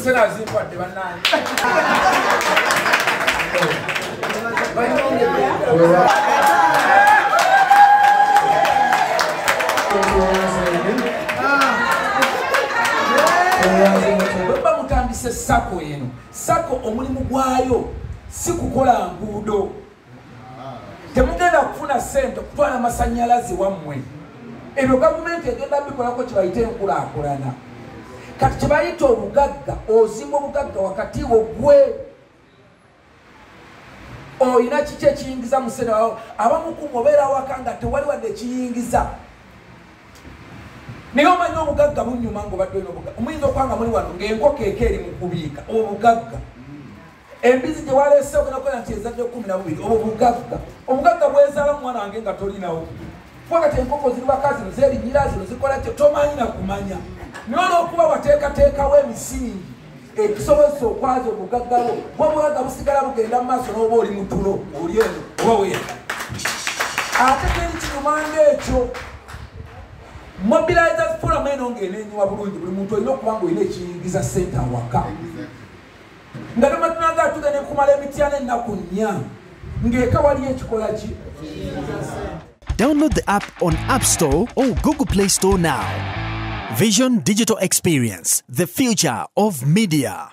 Sera zikwadde bannange. Bamutandise sako eno sako omulimu gwayo si kukola nguudo temugenda kufuna sente okutwala amasanyalaze wammwe ebyo gavumenti egenda bikolako kyebayita enkulakulana kati kyebayita obugagga ozimba obugagga wakati wo gwe olina kiki ekiyingiza musene wawo abamukumu obeera waka nga tewali wadde ekiyingiza naye omanyi obugagga bunyuma ngaobadde olina obugagga omuyinza okwanga muli wano ngaenkoko eko eri mu kubiika obugagga embizi gye waleese ogenda kukola nti ezadde kumi na bubiri obwo bugagga obugagga bwezaala mwana wange nga tolinawo kuba kati enkoko ziri baka zino zerinyira zino zikola kyo tomanyi na kumanya naye olwokuba wateekateekawo emisingi ekisobozesa okwaza obugaggalo bwobugagga busigala bugenda mu maaso n'oba oli mutulo oli eno oba weya ate teri kikumanga ekyo mobilizers forum eno ng'enenyiwa bulungi buli muntu olina okuba nga olina ekiyingiza sente awaka nga namatnanga atuga nekumala emityana ennaku nnya ng'eka waliyo ekikola ki Download the app on App Store or Google Play Store now. Vision Digital Experience, the future of media.